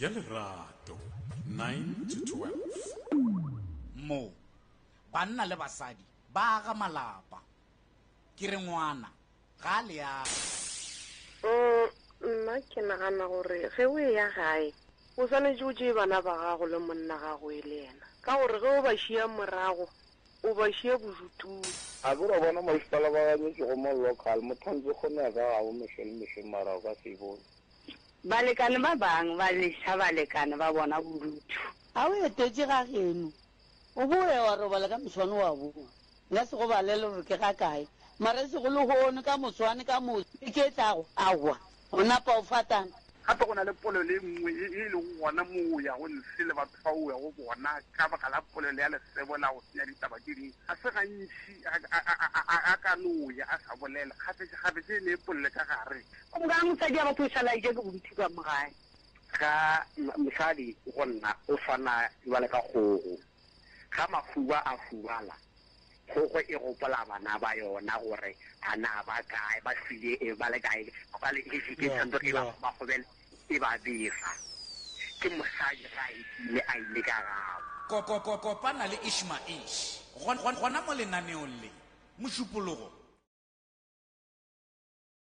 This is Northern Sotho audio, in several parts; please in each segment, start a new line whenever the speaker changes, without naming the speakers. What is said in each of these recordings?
ya lerato 9 to
12 mo banna le basadi ba aga malapa ke re ngwana ga a leaga Mm,
nna ke nagana gore ge o eya gae o swanetše o tšee bana ba gago le monna gago e le yena ka gore ge o ba šia morago o ba šia bodutung. A ke wa bona
masepala ba ganyetšwe go mo local, motho a ntse kgone ya ka gabo mehlo le mehlo mara o ka se e bone. Balekane
ba bang ba neša balekane ba bona bodutu. A o etetše
ga geno, o bo o ya wa robala ka moswane wa bowa. Nka se go balele gore ke ga kae, mara e sego lehono, ka moswane, ka moso, beke e tlago, aowa, o napa o fatana. Gape go na le polelo
e nngwe ye e lego gona moo o yago ntle le batho bao o yago go bona ka baka la polelo ya lesebo la go senya ditaba tše dingwe. Ga se gantši a ka no ya a sa bolela, kgafetšakgafetša e ne e polele ka gare. Go bogega mosadi a batho
o šala eja ke bontši ka mo gae. Ga
mosadi go nna o swana bjale ka kgogo. Ga mahuba a hubala, kgogo e gopola bana ba yona gore a na ba kae, ba hwile e ba le kae, ba le busy ke tshwanetse e ba gobagobele e ba bega. Ke mosadi ge a etile a ile ka gabo. Kopana le
Ishmaesh gona mo lenaneong le, Mošupologo.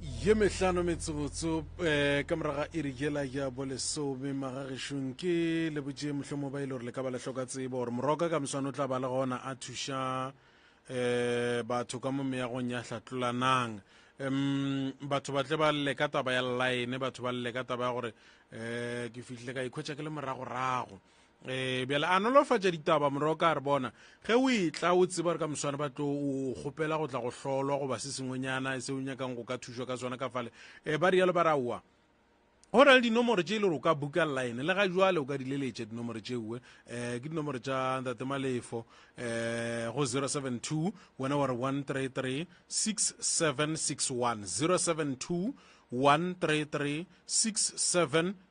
ye mehlano metsotso um eh, ka moraga iri jela ya bolesome magagešong ke lebotše mohlomo ba e le gore le ka ba le hloka tsebo gore moroka ka moswane o tla ba le gona a thuša um batho ka mo meagong ya hlatlolanang um batho ba tle ba lle ka taba ya line batho ba lle ka taba ya gore um ke fihlile ka ikhwetša ke le moragorago Eh bjale a nolofatša ditaba moroka a re bona ge o etla o tseba gore ka moswane ba tlo o kgopela go tla go hlolwa goba se sengwenyana se o nyakang go ka thušwa ka sona ka fale um ba rialo ba raowa go na le dinomoro tše e le gore o ka buka line le ga jwale o ka di leletša dinomoro tšeue um eh, ke dinomoro tša ntate malefo um eh, go 072 wena wa re 133 6761 072 133 6761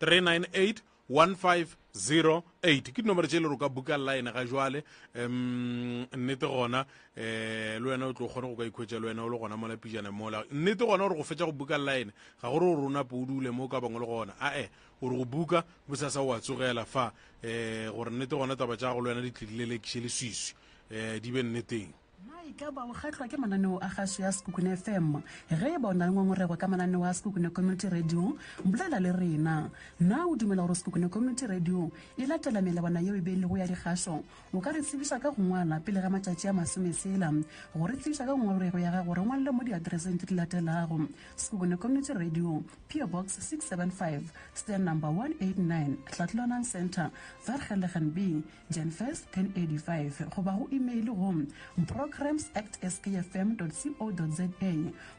398 ke dinomoro tše e le go ka buka line ga jwale um nnete gona um le wena o tlo kgone go ka ikhwetša le wena o le gona mola pijana mola nnete gona gore go fetša go buka line ga gore gore o nape o dule mo o ka bangwe le gona ae gore go buka bosasa wa tsogela fa um gore nnete gona taba tša go le wena di tlile le lekše le swiswi um di be nneteng Na e ka ba o
kgahlwa ke mananeo a gašo ya Sekhukhune FM? Ge e ba o na le ngongorego ka mananeo a Sekhukhune Community Radio, bolela le rena. Na o dumela gore Sekhukhune Community Radio e latela melawana yeo e beilego ya dikgašo? O ka re tsebiša ka go ngwala pele ga matšatši a masome sela go re tsebiša ka ngongorego ya gago. Re ngwalele mo diatereseng tse di latelago, Sekhukhune Community Radio, PO Box 675, Stand Number 189, Tlhatlholanang Centre, Vergelegen B, Jan 1st, 1085, goba go imeile go programs at skfm co za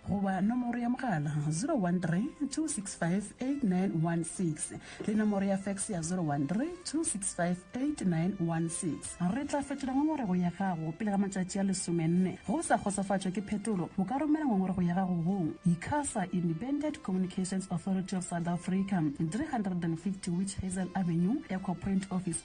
goba nomoro ya mogala 013 265 8916 le nomoro ya fax ya 013 265 8916. Re tla fetola ngongorego ya gago pele ga matšatši a lesomenne. Ge o sa kgotsofatšwa ke phetolo, o ka romela ngongorego ya gago go Icasa Independent Communications Authority of South Africa, 350 Witch Hazel Avenue, Ecopoint Office,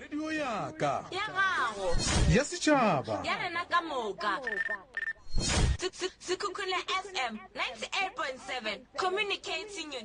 radio ya ka ya gago
ya setšhaba
ya rena ka moka
sekhukhune fm 98.7 communicating your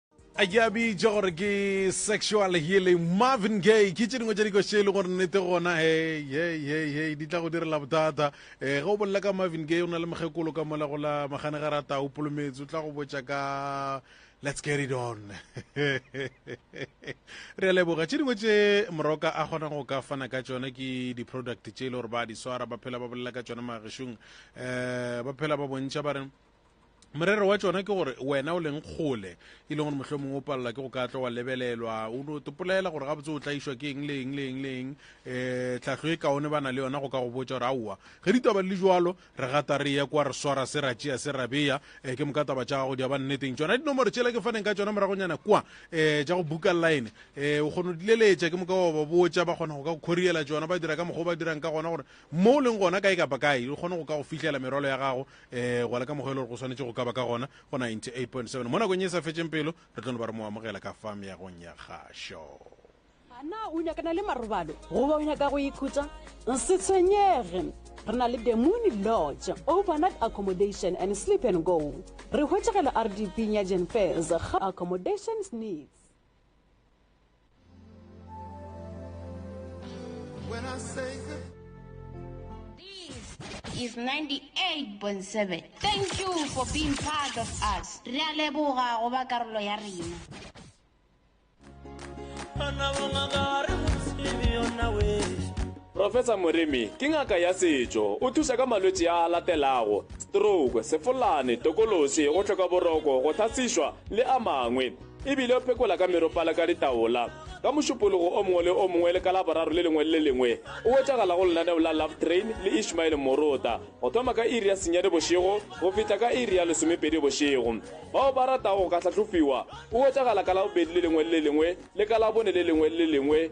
a ke a bitša gore ke sexual healing marvin gay ke tše dingwe tša dikoše e le gore nnete gona hei hei hei hei di tla go direla bothata um ge o bolela ka marvin gay o na le mokgekolo ka mola go la magane ga rata o polometse o tla go botša ka let's get it on re a leboga tše dingwe tše moroka a kgona go ka fana ka tšona ke di-product tše e le gore ba di swara ba phela ba bolela ka tšona magešong um ba phela ba bontšha ba re morero wa tšona ke gore wena o leng kgole e leng gore mohlho mongwe o palela ke go ka tlo wa lebelelwa o no topolela gore gabotse o tlaišwa ke eng le eng le eng le eng um tlhahlo e kaone ba na le yona go ka go botsa gore aowa ge ditaba le jalo re gata re ye kwa re swara se ra tšea se ra beya um ke moka taba tša gago di aba nneteng tsona dinomoro tšela ke faneng ka tsona moragonyana kwa um tša go buka line um o kgona go dileletša ke moka wa ba botsa ba kgona go ka go khoriela tsona ba dira ka mokgwa o ba dirang ka gona gore mo o leng gona kae kapa kae o kgone go ka go fihlela merwalo ya gago um gwa le ka mokgwa e le gore go swanetše go ka ba ka gona go 98.7 mo nakong e sa fetšeng pelo re tlo no ba re mo amogela ka fa meagong ya kgašo ana
o nyakana le marobalo goba o nyaka go ikhutsa se tshwenyege re na le the moon lodge overnight accommodation and sleep and go re hwetšegela rdp nyajen fairs ga accommodations needs
When I say good
is 98.7. Thank you for being part of us. Re a leboga go ba karolo ya rena.
Professor Moremi ke ngaka ya setšo, o thuša ka malwetši a latelago, stroke, sefolane, tokološi, go hloka boroko, go thasišwa le a mangwe. E bile o phekola ka meropa le ka ditaola. Ka mošupologo o mongwe le o mongwe le ka Laboraro le lengwe le le lengwe, o wetšagala go lenaneo la Love Train le Ishmael Morota, go thoma ka iri ya senyane bošego go fihla ka iri ya lesomepedi bošego. Bao ba ratago go ka hlahlofiwa, o wetšagala ka Labobedi le lengwe le le lengwe le ka Labone le lengwe le le lengwe.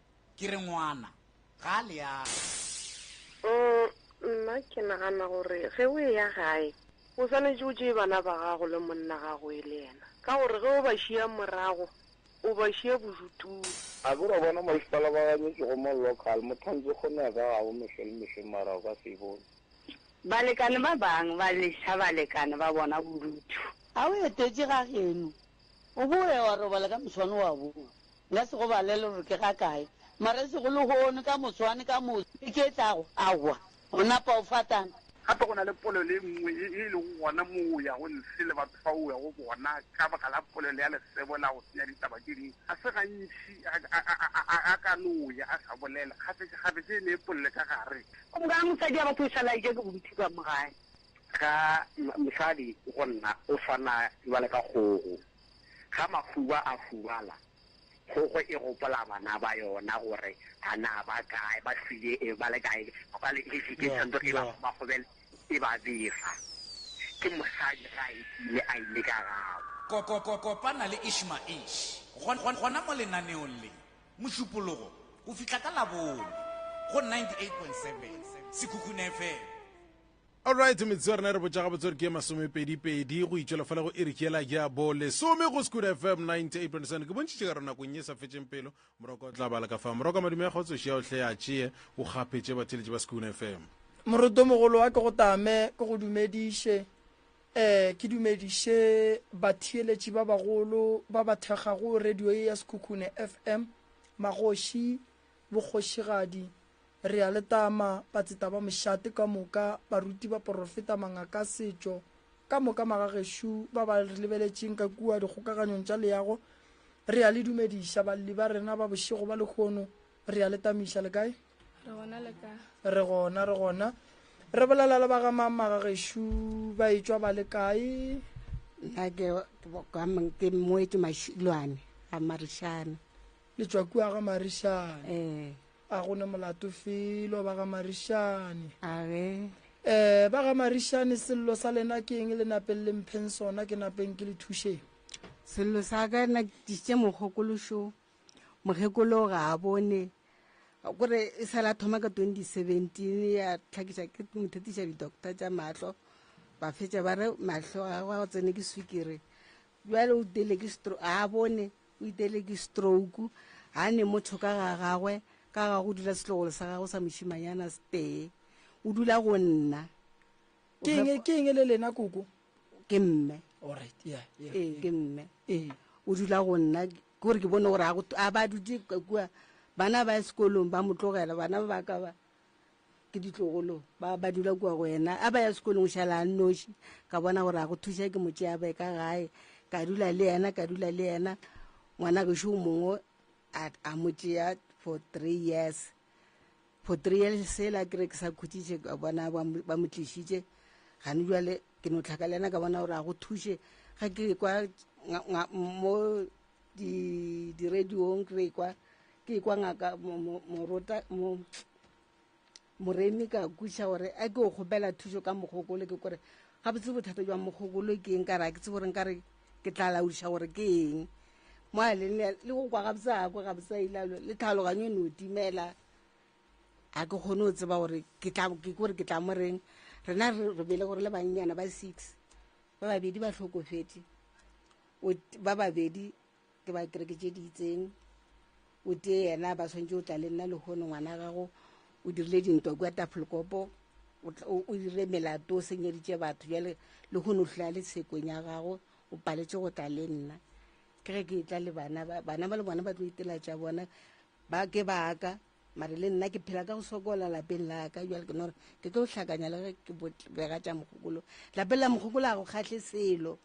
Ke re ngwana, ga a le age. Umm,
nna ke nagana gore ge o eya gae, o swanetše o tšee bana ba gago le monna gago e le yena, ka gore ge o ba šiya morago, o ba šiya bodutung. A ke ra bona
masepala ba ganyetše go mo local, Mothanzi gomme a ka ga bo mehla le mehla mara o ka se e bone. Balekane
ba bang ba leša balekane ba bona bodutu. A o etetše ga geno? O boe wa robala ka moswane wa bongwe. Nka se go balele gore ke ga kae, mara e sego lehono, ka moswane, ka moso, beke e tlago, aowa, o napa o fatana. Gape go na le polelo
e nngwe ye e lego gona moo o yago ntle le batho bao o yago go bona ka baka la polelo ya lesebo la go senya ditaba tše dingwe. Ga se gantši a, a, a, a, a, a ka no ya a sa bolela, kgafetšakgafetša e ne e polele ka gare. Gomme ka ge mosadi a
batla go šala a eja ke bontši ka mo gae. Ga
mosadi go nna o swana bjale ka kgogo. Ga mahuba a hubala, kgogo e gopola bana ba yona gore a na ba kae, ba hwile e ba le kae, bjale e e tshwanetse e ba gobagobele e ba befa. Ke mosadi ge a etile a ile ka gabo. Kopana le
Ishmael gona mo lenaneong le, Mošupologo go fihla ka Labone go 98.7 Sekhukhune FM. Alright,
metsotso ya rena re botša gabotse gore ke ye masomepedipedi go itšwela fela go iriki yela ya bo lesome go Skud FM 98.7 ke bontšitše ka re nakong ye sa fetšeng pelo moroko o tla bala ka fa moroko madume ya kgotsoši ya ohle ya tšee o kgaphetše batheletši ba Skud FM moruto mogolo
wa ke go tame ke go dumediše um ke dumediše batheeletši ba bagolo ba ba thekgago radio ye ya sekhukhune fm magoši bokgošigadi Re a le tama, batseta ba mošate ka moka, baruti, baporofeta, mangaka a setšo, ka moka magagešo ba ba re lebeletšeng ka kua dikgokaganyong tša leago, re a le dumediša, balli ba rena ba bošego ba lehono, re a le tamiša. Le kae? Re gona, le ka. Re gona, re gona. Re bolela le ba ga mang magagešo? Ba etšwa ba le kae? Nna
ke,
ke moetši
Mašilwane
a
Marishane. Le tšwa kua
ga Marishane. Eh. A go ne molato felo ba ga Marishane. A ge. Eh, ba ga Marishane sello sa lena ke eng le napeng le mpheng sona ke napeng ke le thušeng? Sello sa
ka na ke tšitše mokgokološo. Mokgekolo ga a bone. Gore e sa la thoma ka 2017 ya tlhakiša ke mothetiša di-doctor tša mahlo. Ba fetša ba re mahlo ga go tsene ke swikere. Bjale o tele ke stro a bone. O itele ke strouku. Ga ne motho ka ga gagwe, ka ga go dula setlogolo sa gagwe sa mošimanyana se tee. O dula go nna. Ke eng,
ke eng le lena koko? Ke mme.
All right, yeah, yeah. Ee, ke mme. Ee. O dula go nna, kore ke bone gore a ba dutse kua, bana ba sekolong ba mo tlogela, bana ba ka ba. ke ditlogolo ba ba dula kua go ena a ba ya sekolong šala a nnoši ka bona gore a go thuša ke motse a be ka gae ka dula le ena ka dula le ena ngwana gešo o mongwe a mo tšea for three years for three years sela ke re ke sa khutšiše ka bona ba mo tlišitše gane jale ke no tlhaka le ena ka bona gore a go thuše ga ke kwa mo di-radiong ke re kwa ke kwa ngaka morota moremi ka kuša gore a ke o kgopela thušo ka mogokolo ke kore ga botse bothata jwa mogokolo ke eng ka re a ke tse gore nka re ke tla laodiša gore ke eng mo a leng le go kwa gabotse a kwa gabotse a ilalo le tlhaloganyo e ne o timela a ke kgone o tseba gore ke kore ke tla mo reng rena re bele gore le bannyana ba six ba babedi ba tlhokofetse ba babedi ke ba kereke tše di itseng o tee yena ba tshwanetse o tla le nna lehono ngwana gago o dirile dintwa kua tafolkopo o dirile melato o senyeditše batho jale lehono hlola le sekong ya gago o paletse go tla le nna ke ge ke e tla le bana bana ba le bona ba tlo itela tša bona ba ke baka mare le nna ke phela ka go sokola lapeng laka jale ke nore ke tlo hlakanya le ge ke bega tša mogokolo lapeng la mogokolo a go kgatlhe selo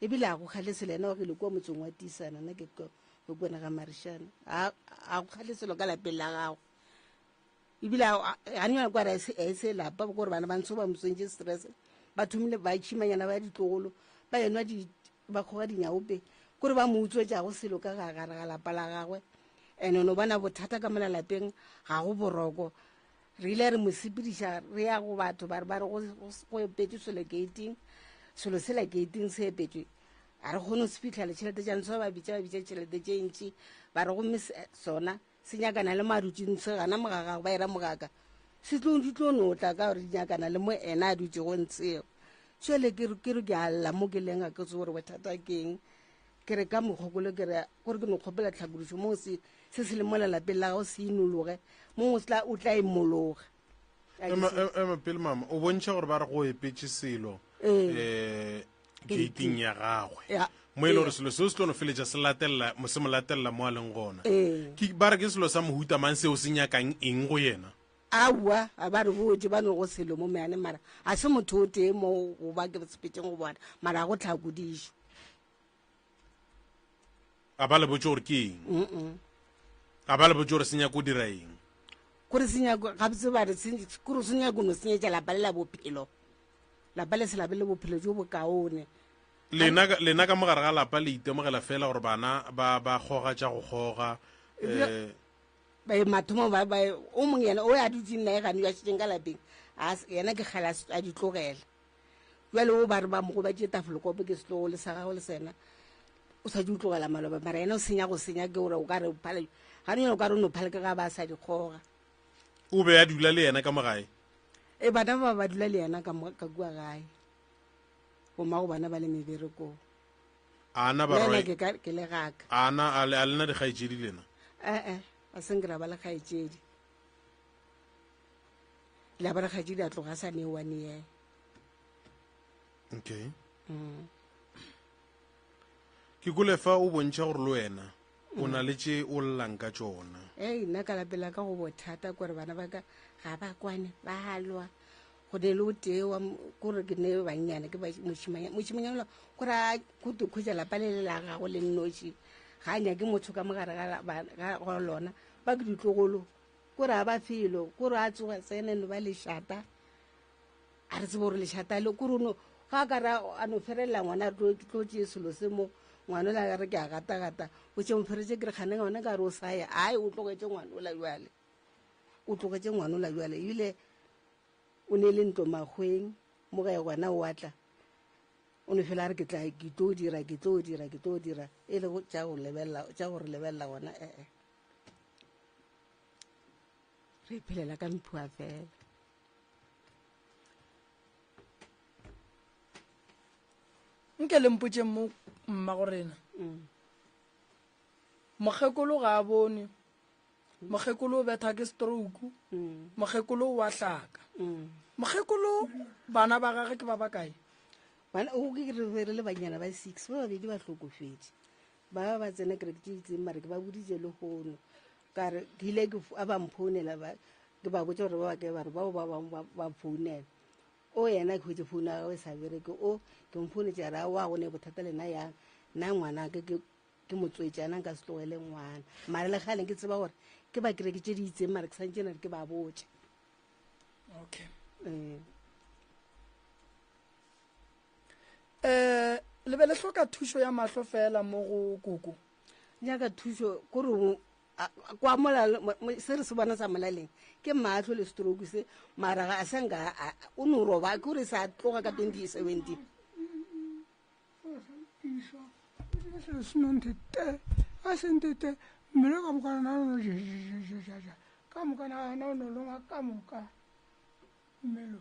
E bile a go kgalese le yena o gile kua motseng wa Tisana, na ke ko go kwena ga Marishane. A, a go kgaleselo ka lapeng la gago. E bile a, a nyana kwa re a ese lapa, ba gore bana ba ntsho ba motswentše stress. Ba thomile ba tšhimanyana ba ditlogolo, ba enwa di, ba kgoga dinyaope. Kore ba mo utswetša go selo ka gare ga lapa la gagwe. Ene no bona bothata ka mona lapeng, ga go boroko. re ile re mo sepediša re ya go batho ba re ba re go epetswe selo gating selo sela gating se epetswe a re kgone go se fitlha le tšhelete jang se ba bitsa ba bitsa tšhelete tše ntši ba re gomme eh, sona se nyakana le marutsing se gana mogagago ba era mogaka se tlo di tlo no tla ka gore di nyakana le mo ena a dutse go ntshego jale ke re ke a lla mo ke leng a ke tse gore bothata keng Ke re ka mokgokolo ke re gore ke no kgopela tlhakodišo mo se se se le mola lapeng la gago se inologe mong o tla o tla imologa ema e-,
ema pele mama o bontšha gore ba re go epetse selo um gating ya gagwe Ya. mo e le gore selo seo se tlo no feletša se latelela mo se mo latelela mo a leng gona Ee. Ke- ba re ke selo sa mohuta mang seo se nyakang eng go yena aowa a
ba re botse ba no go selo mo meane mara ga se motho o tee mo goba ke sepetšeng go bona mara ga go tlhakodišo
a ba le botse gore ke eng a ba le botse gore se nyako dira eng kore se nyako
ga botse ba re kore se nyako no se nyetsa lapa le la bophelo lapa le se labe le bophelo jo bokaone lena
lena ka mogare ga lapa le itemogela fela gore bana ba ba goga tša go goga eh ba e
mathomo ba ba o mong yena o ya dutse nna e gane ya tšeng ka lapeng a yena ke gala a ditlogela bjale o ba re ba mo gobatše tafolokophe ke setlogo le sa gago le sena o sa di o tlogela maloba mara ena o senya go senya ke gore o ka re phale gane yone o ka re o no phale ke ga ba sa di kgoga o be
a dula le yena ka mo gae e bana ba
ba dula le yena ka mo- ka kua gae goma go bana ba le meberekong a
na ba Nna roi ke ka- ke
le gaka a na a le- a lena
dikgaetšedi lena ee a
seng ke ra ba le kgaetšedi la ba rakgadi la tloga sa ne one year okay
mm. ke kole fa o bontšha gore le wena o na le tše o llang ka tsona ei nna ka lapela
ka go bothata kore bana ba ka ga ba kwane ba halwa go ne le o tee wa kore ke ne bannyane ke moshimanyanola kore a kutu kgwetsa lapa le le la gago le nnoši ga a nyake motho ka mogare ga lona ba ke ditlogolo kore a ba felo kore a tsoga tsene no ba lešata a re tsebe gore lešata le kore no ga ka ra a no ferelela ngwana tlo tse selo se mo ngwana o la re ke a gatagata o tse moferetse ke re kgane ngwana ka re o saye ai o tlogetse ngwana o la jale o tlogetse ngwana o la jale ebile o ne e le ntlo magweng mo gae gona o atla o ne fela a re ke tla ke tlo dira ke tlo dira ke tlo dira e le tša go lebelela tša gore lebelela gona ee re phelela ka mphua fela
nke le mpotse mo mma go rena mm. mokgekolo ga a bone mokgekolo o betha ke stroke mm. mokgekolo o wa hlaka mm. mokgekolo bana ba gage ke ba ba kae bana o
ke re re le banyana ba six ba babedi ba hlokofedi ba ba ba tsena kereke tse itseng mare ke ba boditse le gono kare ke ile ke f- a ba mphounela ba- ke ba botsa gore ba ba kae bare bao ba bangwe ba- ba founela o yena ke hwetse founu ya gagwe e sa bereke o ke mfounetse a re a wa go ne bothata lena yang nna ngwana ke ke- ke motswetsi ana nka se tlogele ngwana mare le gale ke tseba gore ke ba kereke tse di itseng mare ke santse na re ke ba botse
okay um um le be le hloka thušo ya mahlo fela mo go koko nyaka thušo
kore kwa se re se bona sa molaleng ke mahlo le stroke se mara ga a senka o ne o roba ke gore sa tloga ka twenty seventeen
a sentete mmele ka mokana na ono ka mokana na ono longwa ka moka mmelo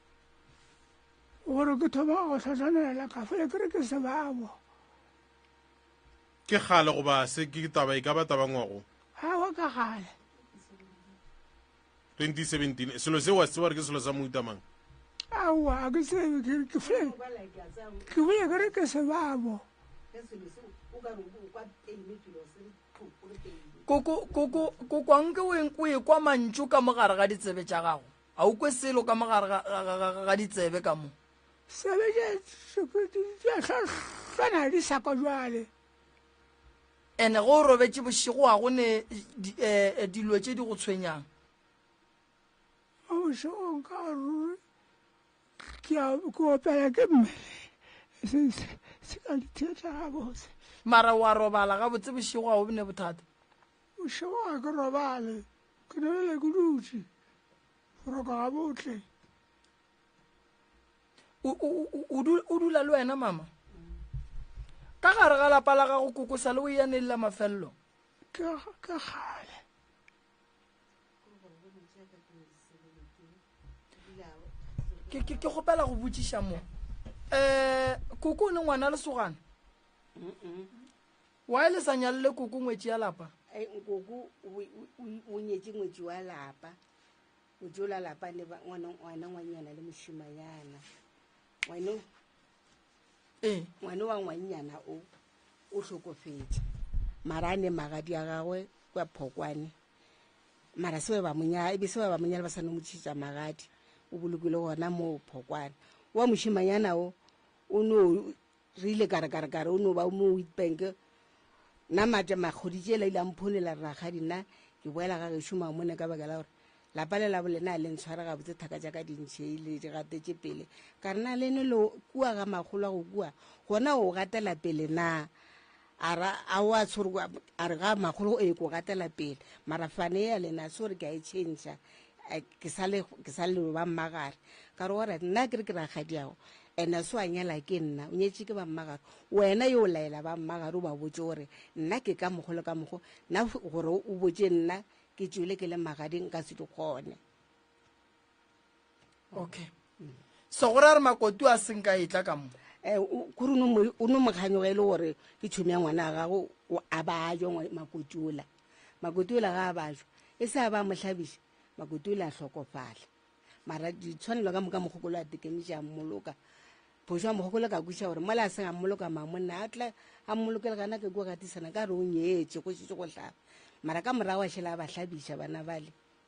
gore ke thoma go tlhatlhanela kafa e kere ke sebabo
ke gale goba se ke taba e ka ba tabangwago gawa ka gale 2017 selo se wa se tseba gore ke selo sa moutamang aowa
a ke tsebe ke fle ke bole kere ke sebabo
koko koko koko anke o ekwa mantšu ka mogare ga ditsebe tša gago A o kwe selo ka mo gare ga, ga, ga, ga, ga ditsebe ka mo? Sebe tše
sephetodi tše sa swana di sa kwa jwale.
Ene go robetše bošego wa go ne di, eh, eh, dilo tše di go tshwenyang.
Mo bošegong ka ruri ke a ke opela ke mmele se se se ka ditheta gabotse. Mara wa
robala gabotse bošego ga o bne bothata. Bošego
ga ke robale. Ke nwelele ke dutše, go roka gabotle.
O dula le wena, mama? Ka gare ga lapa la gago kokosa le o ya neng la mafelelo? Ke
kgale.
Ke kgopela go botšiša mo. Um, koko o ne ngwana lesogana? Why le sa nyalle koko ngwetši ya lapa? Ai nkoko
o nyetše ngwetši wa lapa o jola lapa le ngwana ngwanyana le mošimanyana ngwano ee ngwano wa ngwanyana o o hlokofetše mara a ne magadi a gagwe kwa phokwane mara se ba monyala ebe se ba monyala ba sa no motšhitša magadi o bolokile gona moo phokwane wa mošimanyana o o no re ile kare kare kare o no ba mo witbank nna mate makgodi tše la ile a mphonela rragadi nna ke boela ga gešo mamone ka baka la gore lapa le labo lena le ntshwara gabotse thaka tša ka dintšhei le di gatetše pele ka re na le ne le kua ga magolo a go kua gona o gatela pele na A ra, A o a tshwere kwa? A re, Ga makgolo, ee, ko gatela pele. Mara fane ya lena, sore ke a e tšhentšha. Eh, ke sa le, ke sa le ba mmagare. Ka re, Alright, nna a ke re ke rakgadiago, and a se wa nyala ke nna, o nyetše ke ba mmagare. Wena yo o laela ba mmagare, o ba botše gore nna ke ka mokgo le ka mokgo, nna gore o botše nna ke tšwele ke le magading, nka se di kgone.
okay so go ra re makotu a seng ka etla ka mo eh, kore
o no mokganyoga e le gore ke tšhomi ya ngwana a gago a bajwa makoti ola makoti ola ga a bajwa e se a ba mohlabiša makoti ola a hlokofala mara ditshwanelo ka moka mogokolo a tekemiša a mmoloka phoso ya mogokolo ka kweša gore mola a seng a mmoloka mamonna a tla a mmolokele gana ke ko gatisana ka re o nyetse go šetse go tlhaba mara ka morago a šhela a ba hlabiša bana bale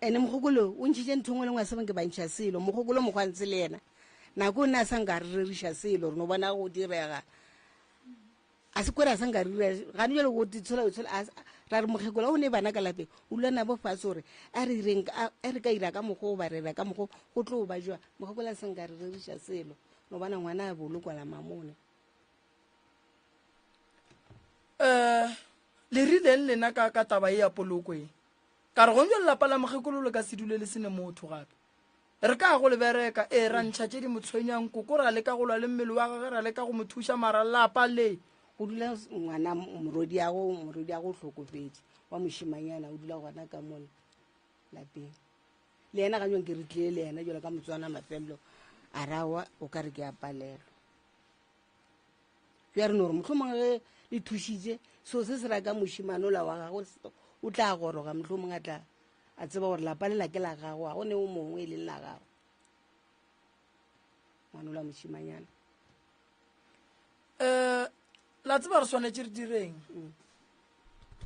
ene mogokolo o ntšhitše ntho ngwe le ngwe a sebeng ke bantšha selo mogokolo mokgwantse le yena nako o ne a sa nka re reriša selo re no bona go direga a se kwere a sa nka re dira gane jale go tshola tshola ra re mokgekolo o ne bana ka lapeng o lula nabo fatshe gore a re ireng a re ka ira ka mokgwa o ba rera ka mokgwa go tlo ba jwa mokgekolo a sa nka re reriša selo no bona ngwana a bolokwala mamone
um le rileng lena ka ka taba e ya poloko e ka re gonjo lelapa la mokgekolo le ka se dule le sene motho gape re ka go le bereka ee ra ntšha tše di mo tshwenyang koko ra leka go lwa le mmele wa gage ra leka go mo thuša mara lapa le go dula
ngwana morodi yago morodi yago o hlokofetše wa mošimanyana o dula gona ka mona lapeng le yena ga nyong ke re tlile le yena jalo ka motswana mafelelo a rawa o ka re ke a palelwa ya re no gore mohlomongwe ge le thušitse seo se se ra ka mošimane ola wa gagwe o tla goroga mohlomongwe a tla a tseba gore lapa le lake la gago ga go ne o mongwe e leng la gago ngwane ola mošimanyana um
la tseba re swanetse re direng mm.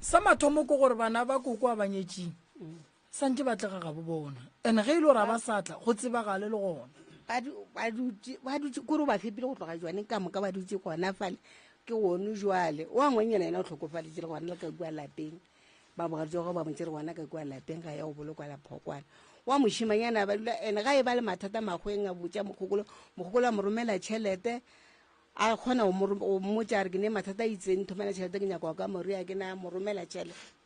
sa mathomo ko gore bana ba koko a banyetsing mm. Sa ntše ba tlega gabo bona, and ge e le gore ga ba sa tla go tsebagale le gona.
ba dutše kore o ba fepile go tloga jwaneng ka moka ba dutše gona fale ke one jwale wa ngwenyana yena o tlhokofaletše le gona le ka kua lapeng ba bogatsogo ba motse re gona ka kua lapeng ga ya go bolokwa la phokwana wa mošimanyana ba dula ene ga e ba le mathata magweng a botša mokgokolo mokgokolo a mo romela tšhelete a kgona go mmotsa re ke ne mathata a itseng thomela tšhelete ke nyako ka moria ke na mo romela tšhelete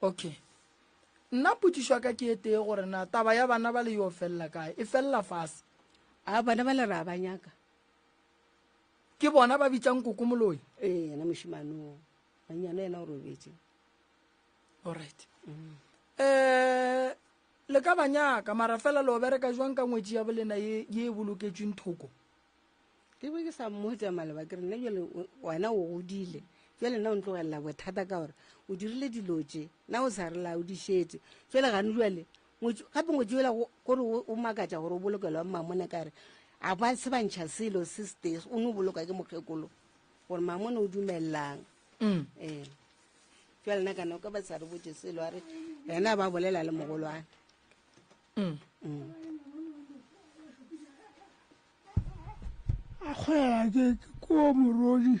okay nna potšišo ya ka ke e tee gore na taba ya bana ba le yo felela kae e felela fase a bana ba
le re a ba nyaka
ke bona ba bitsang koko moloi ee yena mošimano
manyana yena o robetse allright
um le ka ba nyaka mara fela le obereka jwang ka ngwetsi ya bolena ye e boloketsweng thoko ke
be ke sa mmotsa maleba ke re nna jale wena o godile jale nna o ntlogelela bothata ka gore o dirile dilo tse na o sa re la o di šetse jale gane jale gape ngwetse yola kore o makatsa gore o bolokelwa mmamone kare a ba se bantšha selo se stes o ne o boloka ke mokgekolo gore mmamone o dumelelang mm. ee jale nna kana o ka ba sa re botse selo a re ena ba bolela le mogolwane mm.
mm. a kgwela ke ko morodi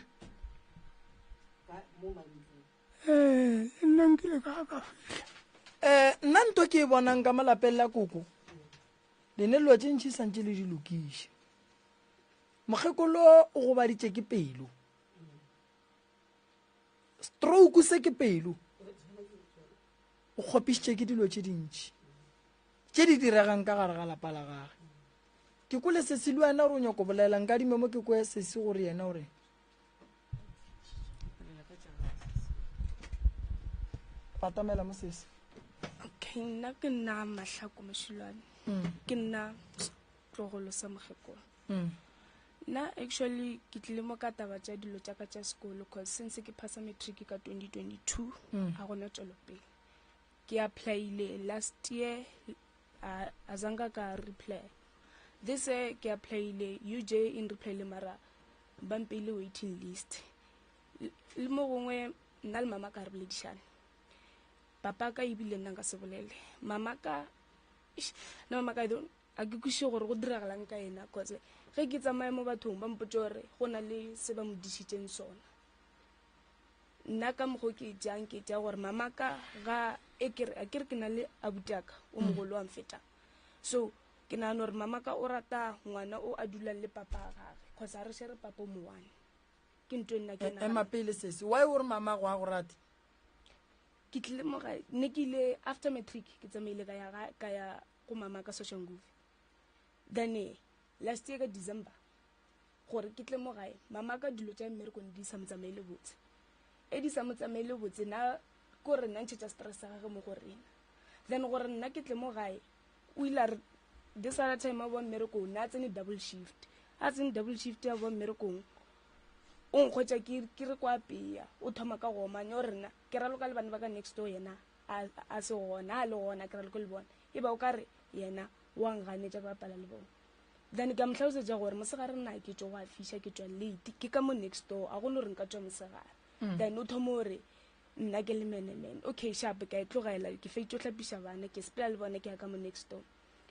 ee eh, nna nkile ka ka fitlha um nna nto ke e
bonang ka molapeng la koko lene lelo tse ntšhi santse le di lokiše mokgekolo o gobaditše ke pelo stroke se ke pelo o kgopišitše ke dilo tše dintši tše di diregang ka gare ga lapa la gage ke ko le sesi le wena gore o nyako bolelelang ka dimemo ke ko sesi gore yena gore patamela mo sesi okay
nna ke nna mahlako mošilwane mm. ke nna tlogolo sa mogekola Mm. Nna actually ke tlile mo ka taba tša dilo tša ka tša sekolo cause since ke phasa matric ka 2022 Mm. ga gona tswelopele ke applyile last year a a zanga ka reply this year ke applyile uj e nreplyile mara ba mpeile waiting list L- le mo gongwe nna le mama ka re boledišane papa ka ebile nna nka se bolele mama ka Eish, no mama ka I don't, A ke kwešiše gore go diragalang ka yena cause ge ke tsamaya mo bathong ba mpotse gore go na le se ba mo dišitseng sona. Nna ka mokgwa ke jang ke tša gore mama ka ga e kere a kere ke na le abutaka o mm. mogolo wa mfeta so ke nagana gore mama ka o rata ngwana o a dulang le papa ga gage cause a re shere papa o mowane ke nto e nna ke e, ema pele sese why
o re mama go a go rate
ke tlile mogae ne ke ile after matric ke tsamaile ka ya ka ya go mama ka Soshanguve. Then eh, last year ka December, gore ke tle mo gae, mama ka dilo tša mmerekong di sa mo tsamaile botse. E di sa mo tsamaile botse, na ko re nna ntšhetša stress sa gage mo go rena. Then gore nna ke tle mo gae, o ile a re this other time a boa mmerekong, na tsene double shift. A tsene double shift a boa mmerekong, o nkgwetša ke re kwa peya, o thoma ka go omanya, o rena ke raloka le bana ba ka next door yena. a, a se gona, a le gona, ke ra le ko le bona, e ba o ka re yena wa nganetša ke bapala le bona. Then ke a mo hlalosetša gore mosegare nna ke tšo go a fiša, ke tšwa late, ke ka mo next door, a gone gore nka tšwa mosegare. Then o thoma gore nna ke le menemene, okay sharp, ke a e tlogela, ke feditše o hlapiša bana, ke sepela le bona, ke ya ka mo next door.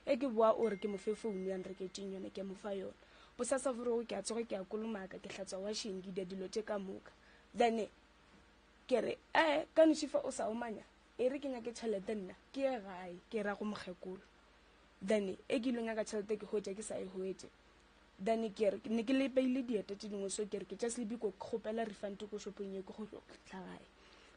E ke boa o re ke mo fe founu ya nreketšeng yone, ke a mo fa yone. Bosasa forogo ke a tsoga, ke a kolomaka, ke hlatswa washeng, ke dia dilo tše ka moka. Then Ke re, Ee, ka noši fa o sa omanya, e re ke nyake tšhelete nna, ke ye gae, ke ra go mokgekolo. Then e ke ile nyaka tšhelete ke hwetša ke sa e hwetše. Then ke re, ne ke le beile dieta tše dingwe, so ke re ke tša Selibiko ke kgopela refund ko shopong ye ke go tlo tla gae.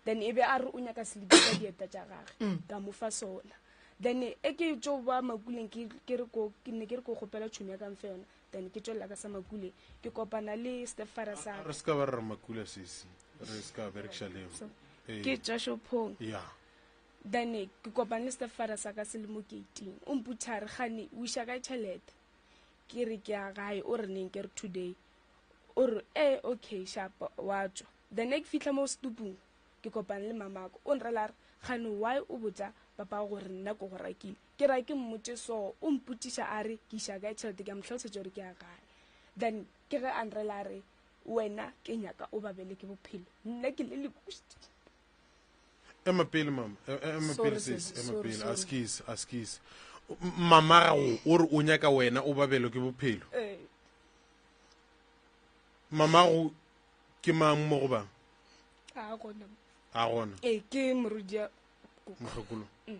Then e be a re o nyaka Selibiko ka dieta tša gage, mm. ka mo fa sona. Then e ke tšo ba makuleng ke re ko ne ke re ko kgopela tšhomi ya ka mfe yona, then ke tšwelela ka sa makule ke kopana le stepfather sa re se ka ba re re makula
sesi re se ka berekiša leo ke ee. tša
shophong ya
then
ke kopane le stepfather sa ka se le mo gating o mputha re gane o iša ka tšhelete ke re ke ya gae o re neng ke re today o re e eh, okay shapa wa tswa then ke fitlha mo stupung ke kopane le mamako o nrela re gane why o botsa papa gore nna ko go rakile Ke ra ke mmotše so, o mpotšiša a re ke iša kae tšhelete, ke a mo hlalosetša gore ke ya gae. Then ke ge a nrela a re, Wena ke nyaka o babele ke bophelo. Nna ke le lebušti.
Ema pele mama, e, e, ema pele sis, ema pele, a skis, a skis. Mama ra go, o re o nyaka wena o babelo ke bophelo. Ee. Mama go, ke mang mo go bang? A gona.
A gona. Ee, ke morudia. Mohlokolo. Mm.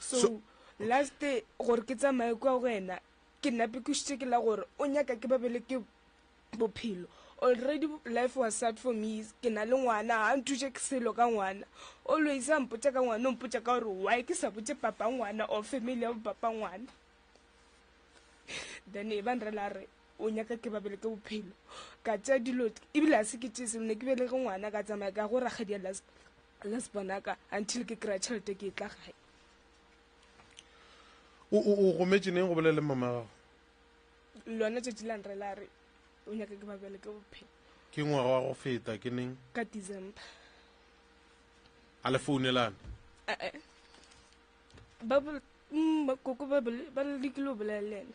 so, so last day gore ke tsamaye kwa go wena ke nape ke šitse ke la gore o nyaka ke babele ke bophelo already life was sad for me ke na le ngwana ga nthuse ke selo ka ngwana always a mpotsa ka ngwana o mpotsa ka gore why ke sa botse papa ngwana or family ya bo papa ngwana then e ba nrela re o nyaka ke babele ke bophelo ka tša dilo ebile a se ke tše selo ne ke belege ngwana ka tsamaya ka go rakgadi ya las bonaka until ke kry-a tšhelete ke e tla gae
o gometse neng go bolela le mama gago lona
tšatši la nre la re o nyaka ke babele ke bophelo ke ngwaga wa go
feta ke neng ka december a le founelana eh, eh.
Bible, mm, ba- koko Bible ba lekile go bolela le ena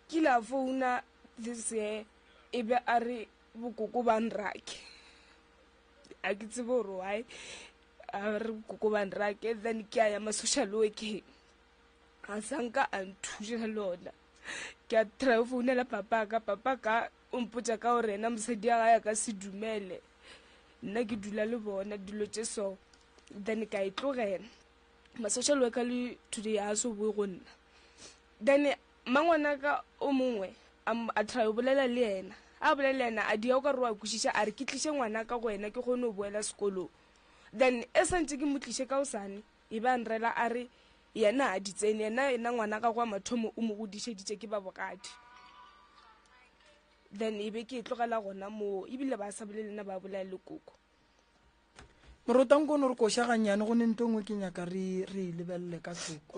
ke ile a founa this year e be a re bokoko ba nrake a ke tsebe gore why a re bokoko ba nrake then ke a ya ma-social workeng a sanka a nthuša le ona ke a try go founela papa ka papa ka o mpotsa ka gore ena mosadi ya gae a ka se dumele nna ke dula le bona dilo tše so then ka e tlogela ma social worker le today a so boe go nna then mangwana ka o mongwe a try o bolela le yena a bolela le yena a dia o ka re wa kwešiša a re ke tliše ngwana ka go wena ke kgone go boela sekolong then e santse ke mo tliše ka osane e ba nrela a re yena a di tsene yena ena ngwana ka kwa mathomo o mo godišeditše ke ba bogadi then e be ke e tlogela gona moo ebile ba sa bolele nna ba bolaya le koko
morota nkono re koša gannyane go ne nto ngwe ke nyaka re re e lebelele ka seko